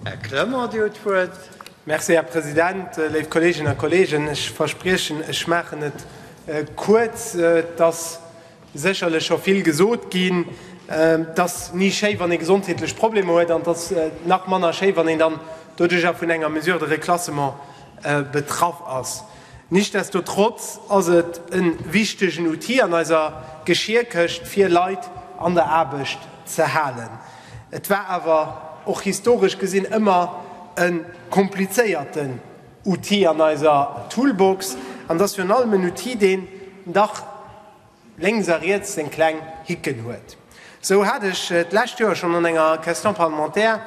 Här Clement, Dir hutt d'Wuert. Merci, Här President. Léif Kolleeginnen a Kolleegen, ech verspriechen, ech maachen et kuerz. Et ass sécherlech scho vill gesot ginn. Et ass ni schéi, wann ee gesondheetlech Problemer huet, an et ass nach manner schéi, wann een dann doduerjer vun enger Mesure de reclassement betraff ass. Nichtsdestotrotz ass et e wichtegen Outil an eiser Geschierkëscht, fir Leit an der Aarbecht ze halen. Et war awer och historesch gesinn ëmmer e komplizéierten Outil an eiser Toolbox an ass virun allem en Outil, deen dach lénks a riets seng kleng Hicken huet. Esou hat ech d'lescht Joer schonn an enger Question parlementaire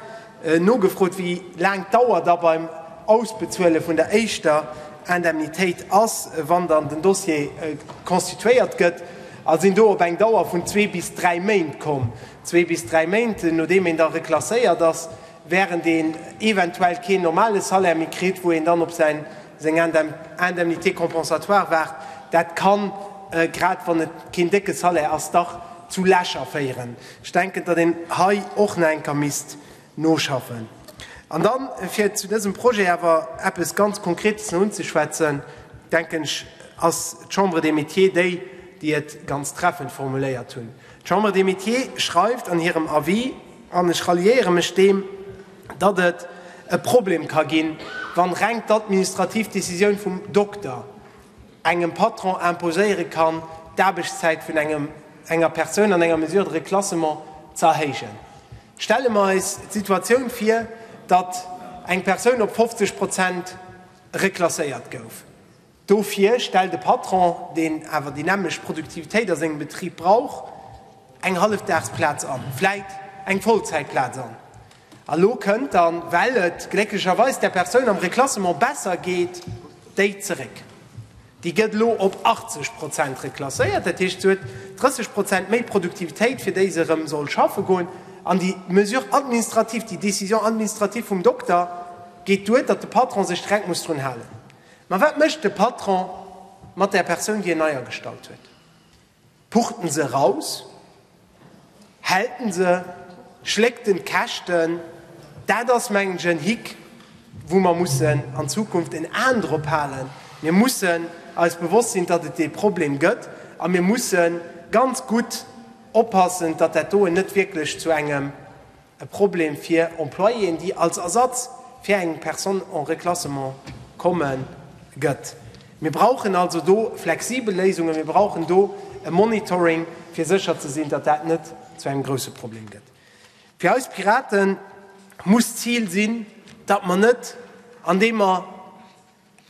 nogefrot, wéi laang d'Dauer da beim Ausbezuele vun der éischter Indemnitéit ass, wann dann den Dossier constituéiert gëtt, a sinn do op eng Dauer vun zwee bis dräi Méint komm. Zwee bis dräi Méint, nodeem een da reklasséiert ass, wärend een eventuell keen normale Salaire méi kritt, wou een dann op säin. seng Indemnité compensatoire waart, dat kann, grad wann et keen décke Salaire ass, dach zu Lächer féieren. Ech denken, datt een hei och nach eng Kéier misst noschaffen. An da fir zu dësem Projet awer eppes ganz Konkretes nach unzeschwätzen, denken ech, ass d'Chambre des Métiers déi, déi et ganz treffend formuléiert hunn. D'Chambre des Métiers schreift an hirem Avis, an ech ralliéiere mech deem, datt et e Problem ka ginn, wann reng d'administrativ Decisioun vum Dokter engem Patron imposéiere kann, d'Aarbechtszäit vun enger Persoun an enger Mesure de reclassement ze erhéijen. Stelle mer eis d'Situatioun vir, datt eng Persoun op 50 Prozent reklasséiert gouf. Dofir stellt e Patron, deen awer déi nämlecht Produktivitéit a sengem Betrib brauch, eng Hallefdagsplaz an, vläit eng Vollzäitplaz an. A lo kënnt dann, well et glécklecherweis där Persoun am Reklassement besser geet, déi zeréck. Déi gëtt elo op 80 Prozent reklasséiert, dat heescht, se huet 30 Prozent méi Produktivitéit, fir déi se erëm soll schaffe goen. An déi Mesure administrative, déi Décision administrative vum Dokter geet duer, datt de Patron sech direkt muss drun halen. Mä wat mécht de Patron mat där Persoun, déi en eiergestallt huet? Pucht en se eraus? Hält en se? Schléckt en d'Käschten? Dat ass, mengen ech, en Hick, wou mer mussen an Zukunft en An drop halen. Mir mussen eis bewosst sinn, datt et dee Problem gëtt, a mir musse ganz gutt oppassen, datt dat doen net wierklech zu engem e Problem fir Employéen, déi als Ersatz fir eng Personne en reclassement komme gëtt. Mir brauchen also do flexibel Léisungen, mir brauchen do e Monitoring, fir sécher ze sinn, datt dat net zu engem grouse Problem gëtt. Fir eis Piraten muss d'Zil sinn, datt mer net, andeem mer,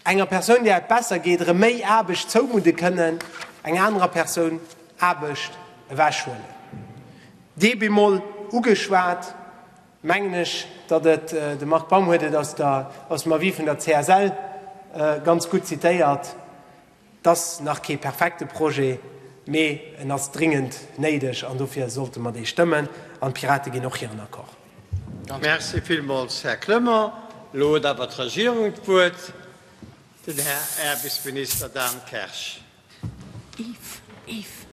Enger Persoun, där et besser geet, erëm méi Aarbecht zoumudde kënnen, enger anerer Persoun Aarbecht ewechhuelen. Dee bemol ugeschwat, mengen ech, datt et, de Marc Baum huet et aus dem Avis vun der CSL ganz gutt zitéiert, Et ass nach kee perfekte Projet, mee en ass dringend néideg an dofir sollte mer dee stëmmen. An d'Pirate ginn och hiren Accord. Merci villmools, Här Clement. Elo huet awer d'Regierung d'Wuert, den Här Aarbechtsminister Dan Kersch.